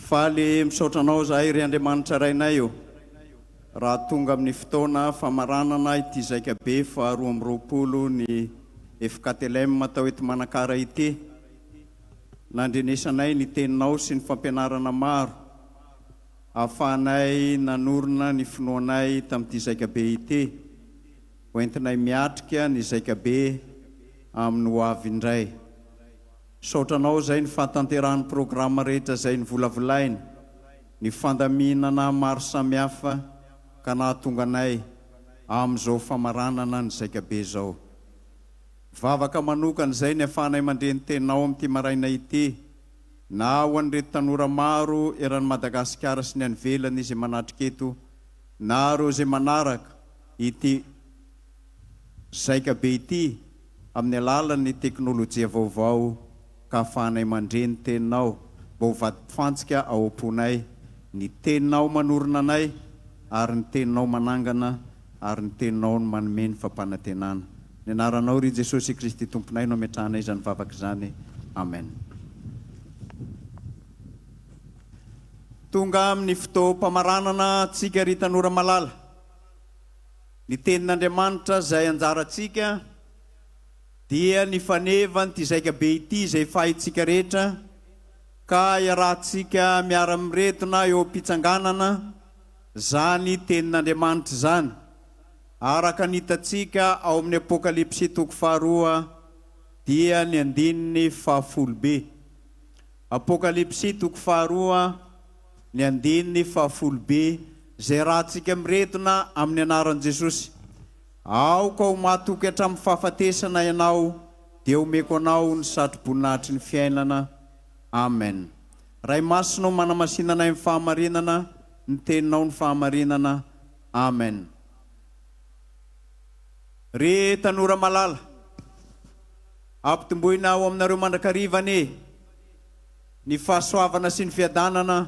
Faly misaotra anao zahay ry Andriamanitra Rainay ô! raha tonga amin'ny fotoana famaranana ity zaika be faha roa amby roapolo ny FKTLM tao eto Manakara ity, nandrenesanay ny Teninao sy ny fampianarana maro ahafahanay nanorina ny finoanay tamin'ity zaika be ity, hoentinay miatrika ny zaika be amin'ny ho avy indray. Misaotra anao izay ny fahatanterahan'ny programa rehetra izay novolavolaina, ny fandaminana maro samihafa ka nahatonga anay amin'izao famaranana ny Zaikabe izao. Vavaka manokana izay ny afahanay mandre ny Teninao amin'ity maraina ity na ho an'ireto tanora maro eran'i Madagasikara sy ny any ivelany izay manatrika eto na ireo izay manaraka ity Zaikabe ity amin'ny alalan'ny teknolojia vaovao ka afahanay mandre ny Teninao mba ho vadimpifantsika ao am-ponay, ny Teninao manorina anay ary ny Teninao manangana ary ny Teninao no manome ny fampanantenana. Ny Anaranao, ry Jesosy Kristy Tomponay no ametrahanay izany vavaka izany. Amen. Tonga amin'ny fotoam-pamaranana antsika ry tanora malala. Ny Tenin'Andriamanitra izay anjarantsika dia ny fanevan'ity zaikabe ity izay fahintsika rehetra, ka iarahantsika miara-miredona eo am-pitsanganana izany Tenin'Andriamanitra izany, araka ny hitantsika ao amin'ny Apokalypsy toko faharoa dia ny andininy fahafolo-B. Apokalypsy toko faharoa. Ny andininy fahafolo Be izay ratsika miredona amin'ny anaran'i Jesosy. Aoka ho mahatoky hatramin'ny fahafatesana ianao dia homeko anao ny satroboninahitry ny fiainana. Amen. Ray Masina o manamasina anay amin'ny fahamarinana, ny teninao no fahamarinana. Amen. Ry tanora malala, ampitomboina ho aminareo mandrakariva anie. Ny fahasoavana sy ny fiadanana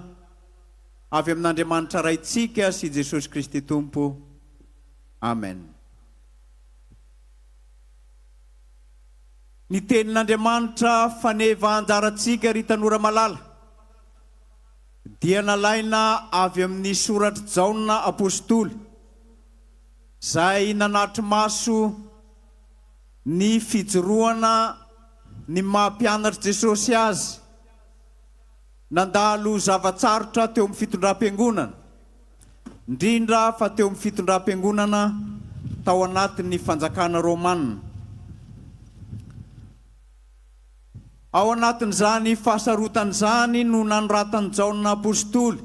avy amin'Andriamanitra Raintsika sy Jesosy Kristy Tompo. Amen. Ny tenin'Andriamanitra faneva anjarantsika ry tanora malala dia nalaina avy amin'ny soratr'i Jaona Apostoly, izay nanatri-maso, Ny fijoroana ny maha mpianatr'i Jesosy Azy nandalo zava-tsarotra teo amin'ny fitondram-piangonana, indrindra fa teo amin'ny fitondram-piangonana tao anatin'ny fanjakana Romana. Ao anatin'izany fahasarotana izany no nanoratan'i Jaona Apostoly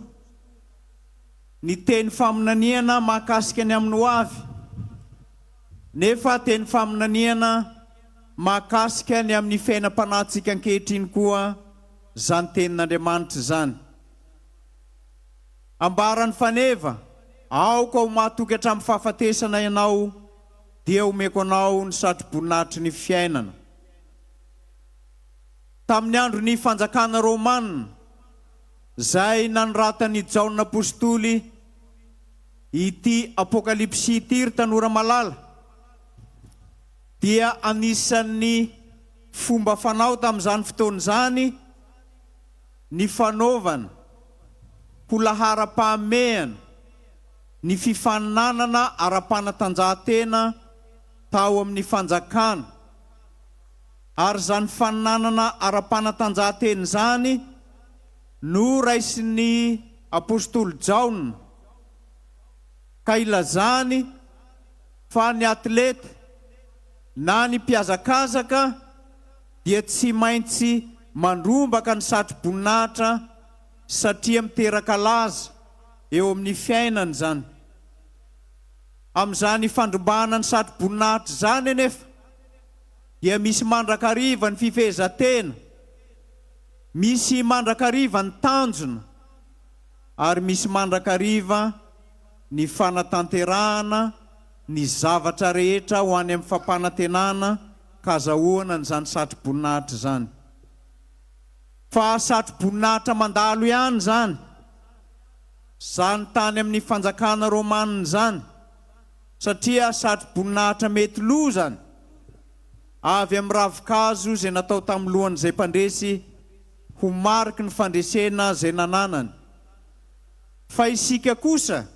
ny teny faminaniana mahakasika ny amin'ny hoavy, Nefa teny faminaniana mahakasika ny amin'ny fiainam-panahintsika ankehitriny koa izany Tenin'Andriamanitra izany. Ambaran'ny faneva, Aoka ho mahatoky hatramin'ny fahafatesana ianao, dia omeko anao ny satroboninahitry ny fiainana. Tamin'ny andron'ny fanjakana romana, izay nanoratan'i Jaona apostoly, Ity Apokalypsy ity ry tanora malala dia anisan'ny fomba fanao tamin'izany fotoana izany ny fanaovana ho laharam-pahamehana ny fifaninanana ara-panatanjahantena tao amin'ny fanjakana ary izany faninanana ara-panatanjahantena izany no raisin'ny Apostoly Jaona ka ilazany fa ny atleta na ny mpihazakazaka dia tsy maintsy mandrombaka ny satro-boninahitra satria miteraka laza eo amin'ny fiainany izany. Amin'izany fandrombahana ny satro-boninahitra izany anefa dia misy mandrakariva ny fifehezan-tena, misy mandrakariva ny tanjona, ary misy mandrakariva ny fanatanterahana ny zavatra rehetra ho any amin'ny fampanantenana ka azahoana an'izany satroboninahitra izany. Fa satroboninahitra mandalo ihany izany, izany tany amin'ny fanjakana romanina izany, satria satroboninahitra mety lozany avy amin'ny ravinkazo izay natao tamin'ny lohan'izay mpandresy, ho mariky ny fandresena izay nananany. Fa isika kosa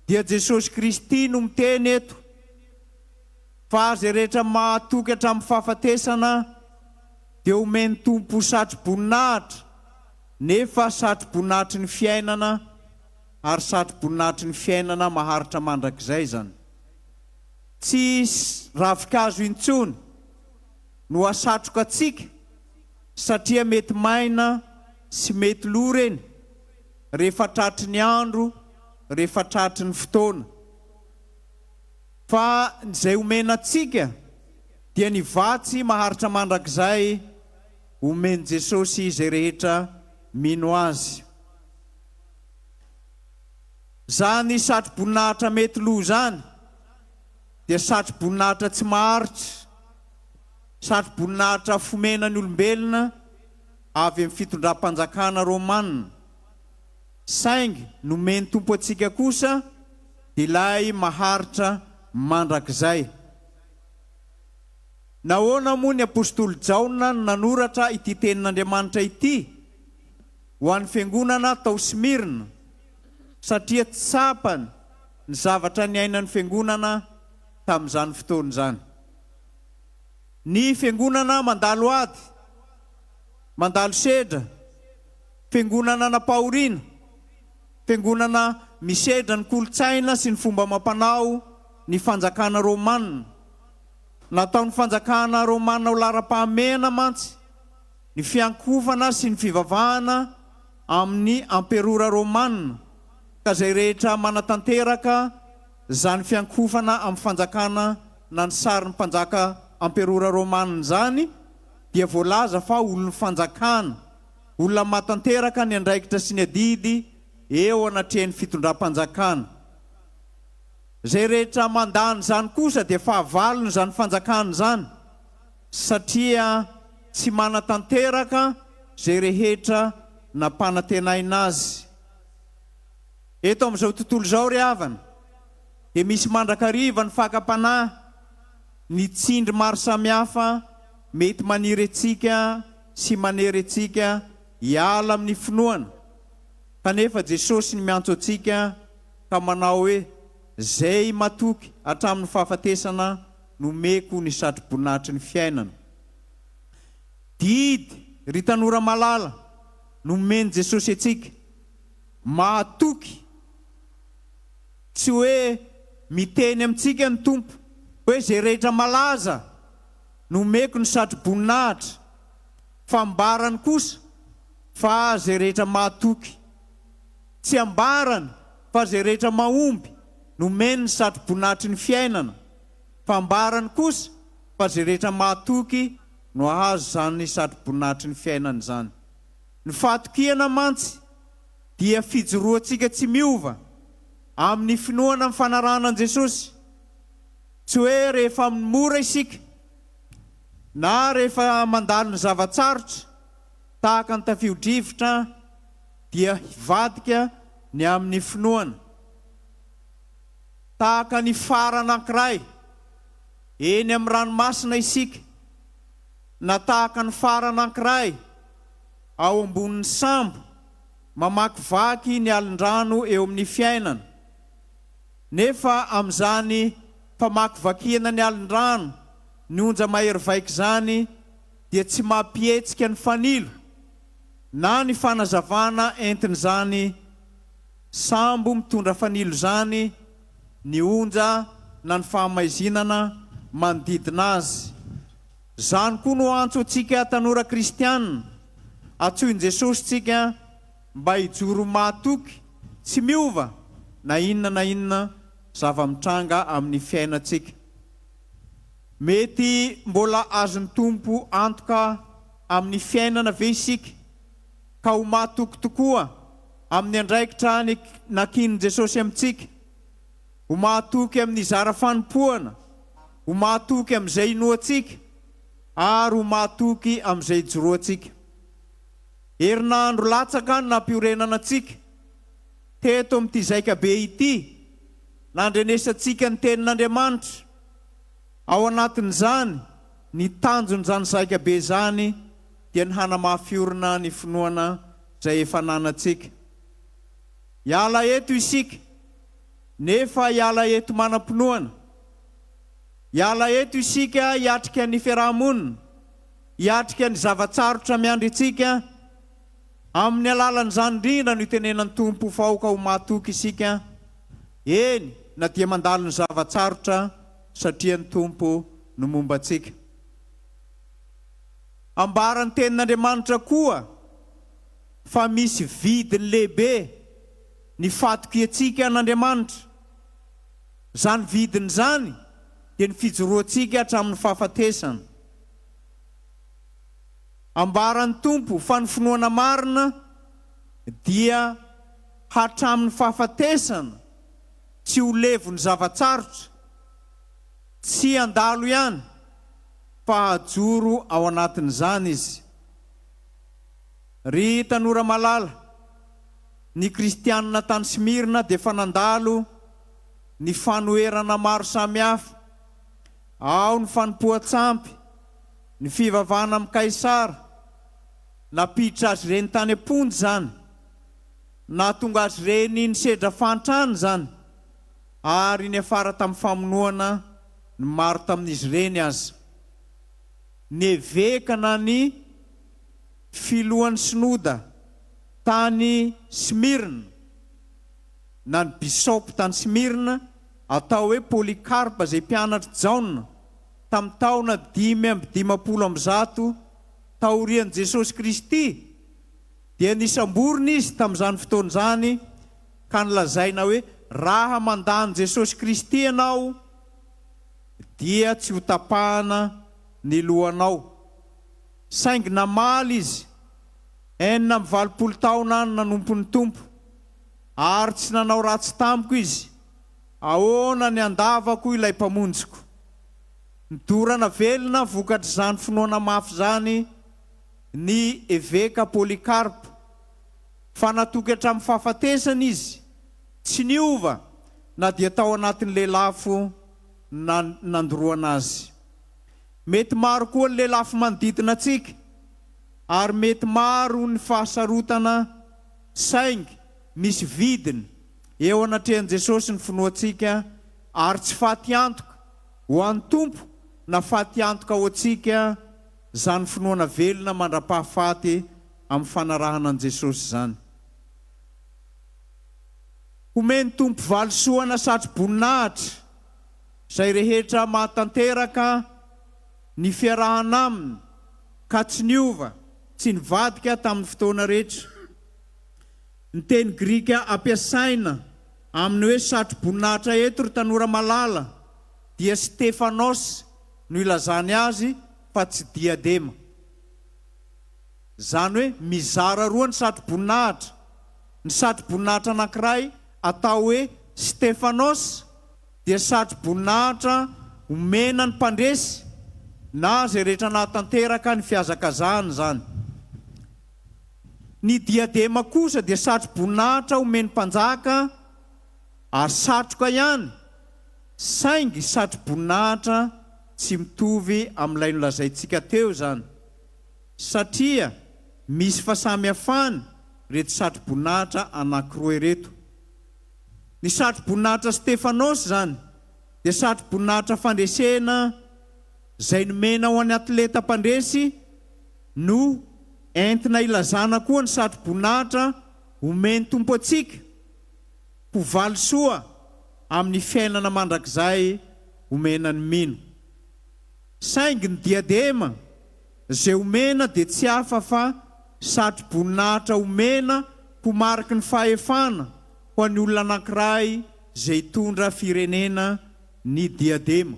dia Jesosy Kristy no miteny eto fa izay rehetra mahatoky hatramin'ny fahafatesana dia homen'ny Tompo satro-boninahitra nefa satro-boninahitry ny fiainana ary satro-boninahitry ny fiainana maharitra mandrakizay izany. Tsy ravinkazo intsony no hasatroka antsika. satria mety maina sy mety lo ireny rehefa tratry ny andro, rehefa tratry ny fotoana. Fa ny izay omena antsika dia ny vatsy maharitra mandrakizay omen'i Jesosy izay rehetra mino Azy. Izany satro-boninahitra mety lo izany dia satro-boninahitra tsy maharitra. Satroboninahitra fomena ny olombelona avy amin'ny fitondram-panjakana Romana, saingy nomen'ny Tompo antsika kosa ilay maharitra mandrakizay. Nahoana moa ny apositoly Jaona no nanoratra ity tenin'Andriamanitra ity ho an'ny fiangonana tao Smyrna? Satria tsapany ny zavatra niainan'ny fiangonana tamin'izany fotoana izany. Ny fiangonana mandalo ady, mandalo sedra, fiangonana anam-pahoriana, fiangonana misedra ny kolontsaina sy ny fomba amam-panao ny fanjakana romana. Nataon'ny fanjakana romana ho laharam-pahamehana mantsy ny fiankohofana sy ny fivavahana amin'ny amperora romana ka izay rehetra manatanteraka izany fiankohofana amin'ny fanjakana na ny sarin'ny mpanjaka amperora romanina izany dia voalaza fa olon'ny fanjakana, olona mahatanteraka ny andraikitra sy ny adidy eo anatrehan'ny fitondram-panjakana. Izay rehetra mandà an'izany kosa dia fahavalon'izany fanjakana izany satria tsy manatanteraka izay rehetra nampanantenaina azy. Eto amin'izao tontolo izao ry havana, dia misy mandrakariva ny fakam-panahy, ny tsindry maro samihafa mety maniry antsika sy manery antsika hiala amin'ny finoana, kanefa Jesosy ny miantso antsika ka manao hoe, Zay matoky hatramin'ny fahafatesana nomeko ny satroboninahitry ny fiainana. Didy, ry tanora malala, nomen'i Jesosy antsika. Mahatoky! Tsy hoe miteny amintsika ny Tompo hoe izay rehetra malaza no omeko ny satroboninahitra, fa ambarany kosa fa izay rehetra mahatoky. Tsy ambarany fa izay rehetra mahomby no omeny ny satroboninahitry ny fiainana, fa ambarany kosa fa izay rehetra mahatoky no hahazo izany satroboninahitry ny fiainana izany. Ny fahatokiana mantsy. dia fijoroantsika tsy miova amin'ny finoana amin'ny fanarahana an'i Jesosy. Tsy hoe rehefa amin'ny mora isika na rehefa mandalo ny zava-tsarotra, tahaka ny tafio-drivotra, dia hivadika ny amin'ny finoana. Tahaka ny fara anankiray eny amin'ny ranomasina isika, na tahaka ny fara anankiray, Ao ambonin'ny sambo, mamakivaky ny alin-drano eo amin'ny fiainana. Nefa amin'izany famakivakiana ny alin-drano, ny onja mahery vaika izany dia tsy mampihetsika ny fanilo na ny fanazavana entin'izany sambo mitondra fanilo izany ny onja na ny fahamaizinana manodidina azy. Izany koa no antso antsika tanora kristiana. Antsoin'i Jesosy antsika mba hijoro mahatoky tsy miova na inona na inona zava-mitranga amin'ny fiainantsika. Mety mbola azon'ny Tompo antoka amin'ny fiainana ve isika, ka ho mahatoky tokoa amin'ny andraikitra nakian'i Jesosy amintsika? Ho mahatoky amin'ny zara fanompoana? Ho mahatoky amin'izay inoantsika ary ho mahatoky amin'izay ijoroantsika. Herinandro latsaka ny nampiorenana antsika teto amin'ity zaika be ity, nandrenesantsika ny Tenin'Andriamanitra. Ao anatin'izany, ny tanjon'izany zaika be izany dia ny hanamafy orina ny finoana izay efa ananantsika. Hiala eto isika, nefa hiala eto manam-pinoana. Hiala eto isika hiatrika ny fiaraha-monina, hiatrika ny zava-tsarotra miandry antsika, amin'ny alalan'izany indrindra no itenenan'ny Tompo ho faoka ho mahatoky isika, eny na dia mandalo ny zava-tsarotra satria ny Tompo no momba antsika. Ambaran'ny Tenin'Andriamanitra koa fa misy vidiny lehibe ny fatokiantsika an'Andriamanitra. Izany vidiny izany dia ny fijoroantsika hatramin'ny fahafatesana. Ambaran'ny Tompo fa ny finoana marina dia hatramin'ny fahafatesana, tsy ho levon'ny zava-tsarotra, tsy handalo ihany fa hajoro ao anatin'izany izy. Ry tanora malala! Ny Kristianina tany Smyrna dia efa nandalo ny fanoherana maro samihafa, ao ny fanompoan-tsampy, ny fivavahana amin'i Kaisara. Nampiditra azy ireny tany am-ponja izany. Nahatonga azy ireny nisedra fahantrana izany, ary niafara tamin'ny famonoana ny maro tamin'izy ireny aza. Ny eveka na ny filohan'ny synoda Tany Smyrne, na ny bisaopy tany Smyrne, atao hoe Polycarpe izay mpianatr'i Jaona, tamin'ny taona dimy amby dimampolo amby zato taorian'i Jesosy Kristy, dia nisamborina izy tamin'izany fotoana izany ka nolazaina hoe, Raha mandà an'i Jesosy Kristy ianao, dia tsy hotapahana ny lohanao. Saingy namaly izy. Enina amby valopolo taona no nanompo ny Tompo, ary tsy nanao ratsy tamiko Izy. Ahoana ny handavako ilay Mpamonjiko? Nodorana velona vokatr'izany finoana mafy izany ny Eveka Polycarpe, fa natoky hatramin'ny fahafatesana izy, tsy niova na dia tao anatin'ny lelafo na nandoroana azy. Mety maro koa ny lelafo manodidina antsika. ary mety maro ny fahasarotana saingy misy vidiny eo anatrehan'i Jesosy ny finoantsika ary tsy faty antoka ho an'ny Tompo na faty antoka ho antsika zany finoana velona mandrapahafaty amin'ny fanarahana an'i Jesosy zany. Homen'ny Tompo valisoa na satro-boninahitra zay rehetra mahatanteraka. Ny fiarahana Aminy, ka tsy niova, tsy nivadika tamin'ny fotoana rehetra. Ny teny grika ampiasaina amin'ny hoe satro-boninahitra eto, ry tanora malala, dia Stephanos no ilazany azy fa tsy diadema. Izany hoe mizara roa ny satro-boninahitra, ny satro-boninahitra anankiray atao hoe Stephanos, dia satroboninahitra omena ny mpandresy na izay rehetra nahatanteraka ny fihazakazahana izany. Ny diadema kosa dia satroboninahitra omen'ny mpanjaka ary satroka ihany, saingy satroboninahitra tsy mitovy amin'ilay nolazaintsika teo izany, satria misy fahasamihafany ireto satroboninahitra anankiroa ireto. Ny satroboninahitra Stefanos izany dia satroboninahitra fandresena izay nomena ho an'ny atleta mpandresy no entina ilazana koa ny satroboninahitra omen'ny Tompo antsika ho valisoa amin'ny fiainana mandrakizay omena ny mino. Saingy ny diadema. Izay omena dia tsy hafa fa satroboninahitra omena ho mariky ny fahefana ho an'ny olona anankiray izay hitondra firenena ny diadema.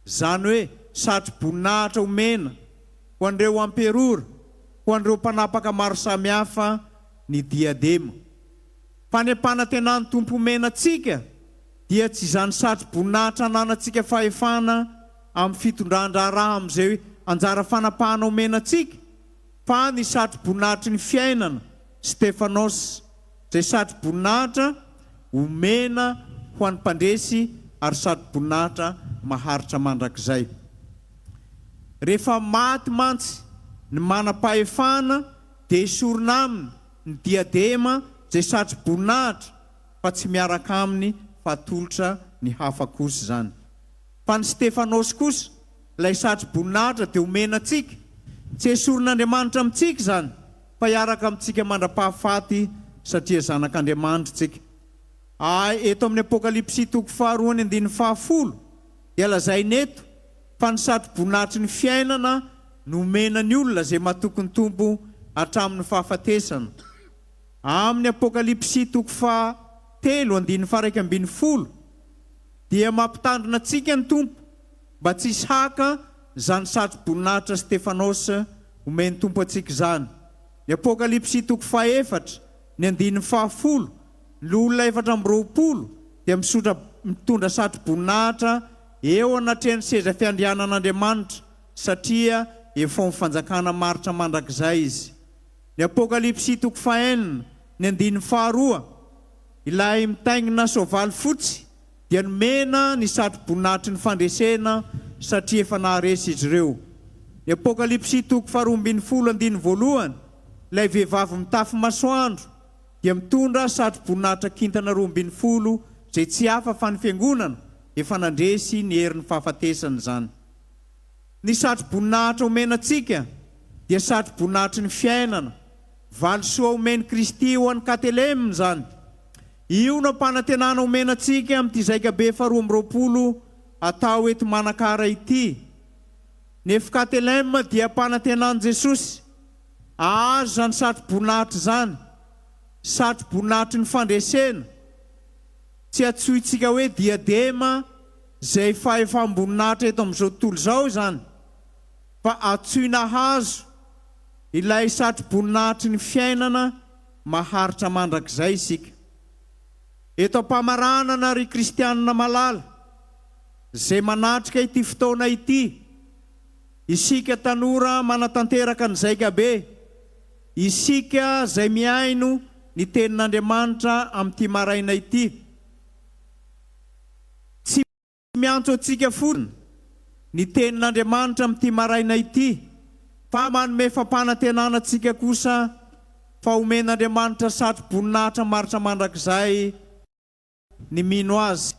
Izany hoe satroboninahitra omena ho an'ireo amperora, ho an'ireo mpanapaka maro samihafa ny diadema. Fa ny ampanantenan'ny Tompo omena antsika dia tsy izany satroboninahitra ananantsika fahefana amin'ny fitondran-draharaha amin'izay anjara fanapahana omena antsika, fa ny satroboninahitry ny fiainana, Stefanos, izay satroboninahitra omena ho an'ny mpandresy ary satroboninahitra maharitra mandrakizay. Rehefa maty mantsy ny manam-pahefana dia esorina aminy ny diadema izay satroboninahitra fa tsy miaraka aminy fa atolotra ny hafa kosa izany. Fa ny Stefanos kosa, ilay satroboninahitra dia omena antsika, tsy esorin'Andriamanitra amintsika izany, fa hiaraka amintsika mandra-pahafaty satria zanak'Andriamanitra isika. A Eto amin'ny Apokalypsy toko faharoa ny andininy fahafolo dia lazaina eto fa ny satroboninahitry ny fiainana no omena ny olona izay matoky ny Tompo hatramin'ny fahafatesana. Amin'ny Apokalypsy toko faha telo andininy faha iraika ambin'ny folo, dia mampitandrina antsika ny Tompo mba tsy hisy haka izany satro-boninahitra Stefanos omen'ny Tompo antsika izany. Ny Apokalypsy toko fahaefatra, ny andininy fahafolo, ny loholona efatra amby roapolo dia misotra mitondra satro-boninahitra eo anatrehan'ny seza fiandrianan'Andriamanitra satria efaon'ny fanjakana maritra mandrakizay izy. Ny Apokalypsy toko fahenina, ny andininy faharoa. Ilay mitaingina soavaly fotsy dia nomena ny satroboninahitry ny fandresena satria efa naharesy izy ireo. Ny Apokalypsy toko faharoa ambin'ny folo andininy voalohany, ilay vehivavy mitafy masoandro dia mitondra satroboninahitra kintana roa ambin'ny folo izay tsy hafa fa ny Fiangonana efa nandresy ny herin'ny fahafatesana izany. Ny satroboninahitra omena antsika dia satroboninahitry ny fiainana. Valisoa omen'i Kristy ho an'i Katelem izany. Io no ampanantenana omena antsika amin'ity Zaikabe faharoa amby roapolo atao eto Manakara ity. Nef Katelem dia ampanantenan'i Jesosy. Ahazo izany satroboninahitra izany, satroboninahitry ny fandresena, tsy antsointsika hoe diadema izay fahefam-boninahitra eto amin'izao tontolo izao izany. fa atsoy nahazo ilay satroboninahitry ny fiainana maharitra mandrakizay isika. Eto am-pamaranana, ry kristianina malala, izay manatrika ity fotoana ity, isika tanora manatanteraka ny zaikabe, isika izay mihaino ny Tenin'Andriamanitra amin'ity maraina ity, tsy. Miantso antsika fotsiny ny Tenin'Andriamanitra amin'ity maraina ity, fa manome fampanantenana antsika kosa fa homen'Andriamanitra satro-boninahitra maharitra mandrakizay ny mino Azy.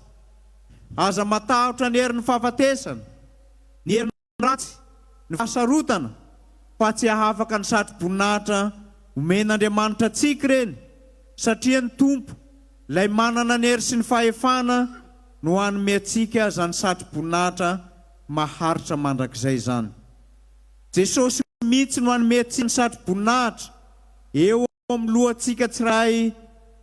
Aza matahotra ny herin'ny fahafatesana, ny herin'ny. ratsy ny fahasarotana fa tsy hahafaka ny satro-boninahitra omen'Andriamanitra antsika ireny satria ny Tompo, Ilay manana ny hery sy ny fahefana no hanome antsika izany satro-boninahitra maharitra mandrakizay izany. Jesosy mihitsy no hanome antsika ny satro-boninahitra eo ao amin'ny lohantsika tsiray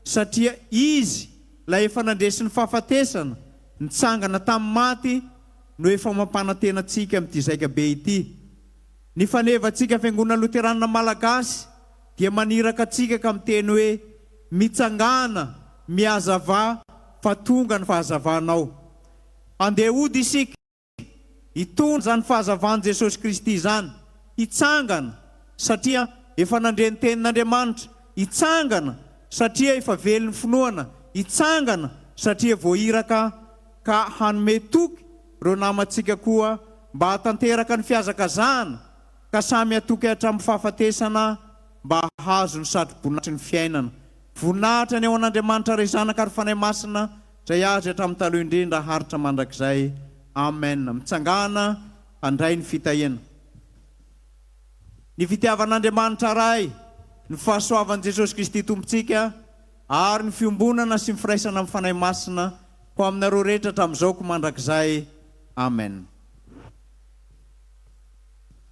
satria izy lay efa nandresy ny fahafatesana, nitsangana tamin'ny maty no efa mampanantena antsika amin'ity zaika be ity. Ny fanevantsika Fiangonana Loteranina Malagasy dia maniraka antsika ka miteny hoe, Mitsangàna, mihazavà fa tonga ny fahazavanao. Andeha hody isika. Itony izany fahazavan'i Jesosy Kristy izany, hitsangana satria efa nandre ny tenin'Andriamanitra, hitsangana satria efa vely ny finoana, hitsangana satria voairaka ka hanome toky ireo namantsika koa mba hahatanteraka ny fihazakazahana ka samy hatoky hatramin'ny fahafatesana mba hahazo ny satroboninahitry ny fiainana. Voninahitra ny ao an'Andriamanitra Ray Zanaka ary Fanahy Masina Zay azy hatramin'ny taloha indrindra haharitra mandrakizay Amen mitsangana handray ny fitahiana Ny fitiavan'Andriamanitra Ray Ny fahasoavan'i Jesosy Kristy Tompontsika ary ny fiombonana sy ny firaisana amin'ny Fanahy Masina ho aminareo rehetra hatramin'izao ko mandrakizay Amen.